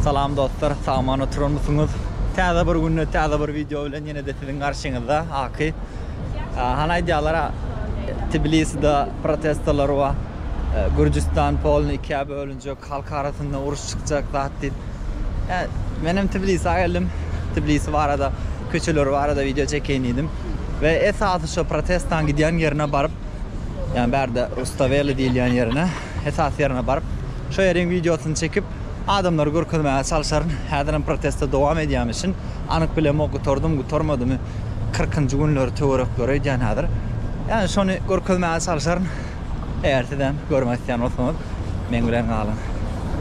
Salam dostlar sagman oturanmysyňyz täze bir günde täze bir video bilen ýenede siziň garşyňyzda Aky han aýdýalara Tbiliside protestolar bar Gürjüstan polny ikä bölünjek halk arasynda uruş çykjak zat diýip menem Tbilisa geldim Tbilisi barada köçeleri barada video çekeýin diýdim we esasy şo protestan gidýän ýerine baryp ýa bärde Rustaveli diýilýän ýerine. Esasy ýerine baryp, şo ýeriň wideosyny çekip, adamlara görkezmäge çalşaryn. Häzir hem proteste dowam edýämi çyn, anyk bilemok, gutardymy, gutarmadymy. Kyrkynjy günleri töwerekleri öýdýän häzir. Ýani şony görkezmäge çalşaryn. Eger sizem görmek isleýän bolsaňyz, meň bilen galyň.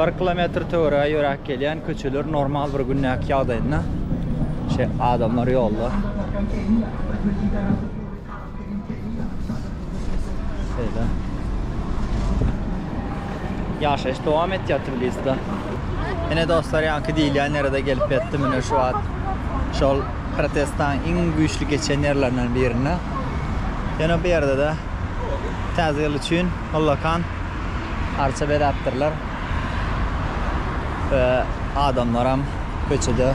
Bir kilometr töwerege ýöräp gelýän köçeler normal bir gündäki ýagdaýynda şe adamlar ýolda. Şeýle. Ýaşaýyş dowam etýär Tbiliside. Ene dostlar ýaňky diýilýän ýere gelip ýetdim. Ine şu wagt şol protestlaryň iň güýçli geçen ýerlerinden birinde. Ýöne bu ýerde-de Täze ýyl üçin ullakan arça bezäpdirler we adamlaram köçede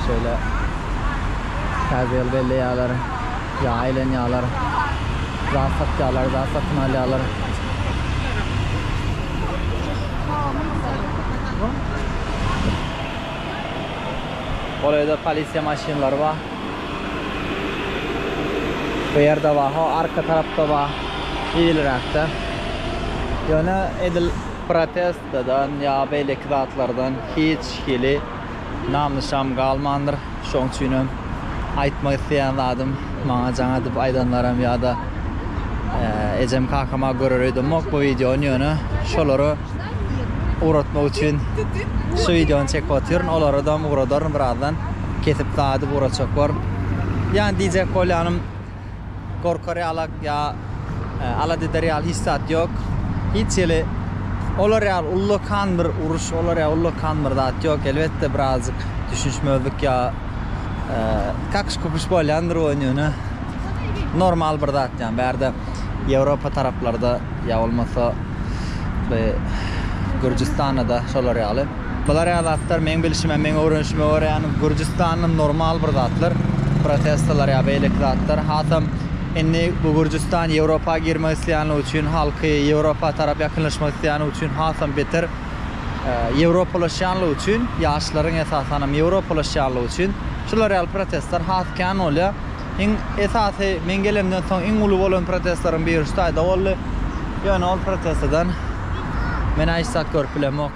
şeýle täze ýyl belleýärler, ýa aýlanýarlar, zat satýarlar, zat satyn alýarlar. Golaýda polisiýa maşynlary bar. Bu ýerde bar, ho arka tarapda bar, eýliräkde. Ýöne edil protestden ýa beýleki zatlardan hiç hili nam-nyşan galmandyr. Şoň üçinem aýtmak isleýän zadym, maňa jaň edip aýdanlaram ýa-da ejem-kakama görer öýdemok bu wideony, ýöne şolara ugratmak üçin şu wideony çekip otyryn. Olaradam ugradaryn birazdan. Kesip daýdyp ugratjak borun. Ýani diýjek bolýanym, gorkar ýalak ýa e, alat eder ýaly hiç zat ýok. Hiç hili olar ýaly ullakan bir uruş, olar ýaly ullakan bir zat ýok. Elbetde birazjyk düşünişmezlik ýa e, kakyş-kukyş bolýandyr oýun ýöne normal bir zat ýa bärde Ýewropa taraplarda Ýa bolmasa bu Gürjüstanda-da şolar ýaly. Bular ýaly zatlar meň bilşime, meň öwrenişime görä ýany Gürjüstanda normal bir zatlar, protestolar ýa beýleki zatlar. Hasam indi bu Gürjüstan Ýewropa girmek isleýänligi üçin, halky Ýewropa tarap ýakynlaşmak isleýänligi üçin hasam beter ýewropalaşýanlygy üçin, ýaşlaryň esasanam ýewropalaşýanlygy üçin şular ýaly protestler has kän bolýar. Iň esasy, men gelemden soň iň uly bolan protestleriň biri şu taýda boldy. Ýöne ol protestadan menä hiç zat görüp bilemok.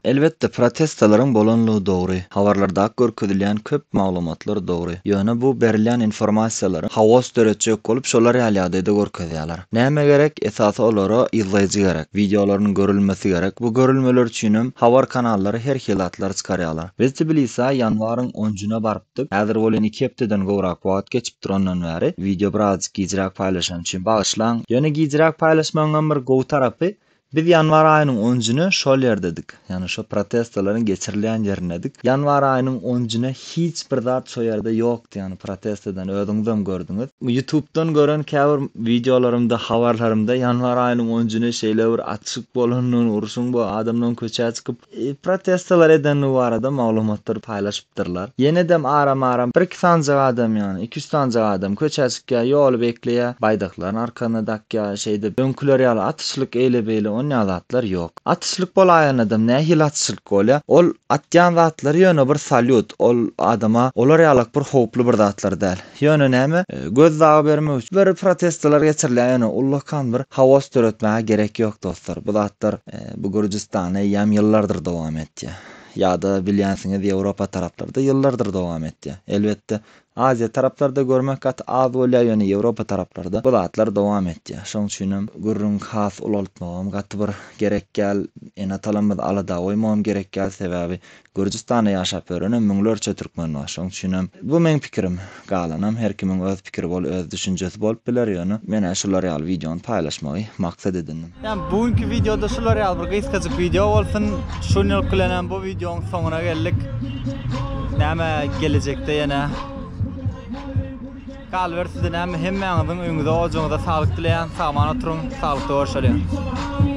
Elbetde, protestalaryň bolanlygy dogry, habarlardaky görkezilýän köp maglumatlar dogry. Ýöne bu berilýän informasiýalary haos döretjek bolup şolar ýaly ýagdaýda görkezýärler. Näme gerek? Esasy olara yzlaýjy gerek. Wideolarynyň görülmesi gerek. Bu görülmeler üçinem habar kanallary her hili zatlar çykarýarlar. Biz Tbilisä ýanwaryň onjuna baryp. çykdyk. Häzir bolýan iki hepdeden gowrak wagt geçipdir ondan bäri. Wideo birazajyk gijräk paýlaşan üçin bagyşlaň. Ýöne gijräk paýlaşmagyňam bir gowy tarapy, biz ýanwar aýynyň onjyny şol ýerdedik. Ýagny şo protestalaryň geçirilýän ýerindedik. Ýanwar aýynyň onjyny hiç bir zat şo ýerde ýokdy, ýagny protesteden özüňizem gördüňiz. Ýutubdan gören käbir wideolarymda, habarlarymda ýanwar aýynyň onjyny şeýle bir açyk bolandygyny, urşuň bu adamlaryň köçä çykyp protestolar edendigi barada maglumatlary paýlaşypdyrlar. Ýenedem aram-aram bir-iki sanjak adam ýagny iki-üç sanjak adam köçä çykýar, ýoly bekleýär, baýdaklaryny arkasyna dakýar, şeýdip, öňküler ýaly atyşlyk, eýle-beýle onýa zatlar ýok. Atyşlyk bolaýanadam nähili atyşlyk bolýar? Ol atýan zatlary ýöne bir salýut, ol adama olar ýalak bir howply bir zatlar däl. Ýöne näme? Göz dagy bermek üçin bir protestolar geçirilýär ýöne ullakan bir haos döretmäge gerek ýok dostlar. Bu zatlar bu Gürjüstanda eýýäm ýyllardyr dowam etýär. Ýa-da bilýänsiňiz Ýewropa taraplarda ýyllardyr dowam etýär. Elbetde Aziýa taraplarda görmek gaty az bolýar ýöne Ýewropa taraplarda bu zatlar dowam etýär. Şoň üçinem gürrüňi has ulaltmagam gaty bir gerek däl. Ene-atalarymyzy alada goýmagam gerek däl sebäbi Gürjüstanda ýaşap ýörene müňlerçe türkmen bar. Şoň üçinem bu meň pikirim. Galanam her kimiň öz pikiri bol öz düşünjesi bolup biler, ýöne men-ä şular ýaly wideony paýlaşmagy maksat edindim. Ýa bu günki wideoda şular ýaly bir gysgajyk wideo bolsun. Şun ýylk bilenem bu wideoň soňuna geldik. Näme gelejekde ýene. Galyber size näme hemmäňiziň öýüňize ojagyňyza saglyk dileýän. Sagaman oturyň. Saglykda görşeliň.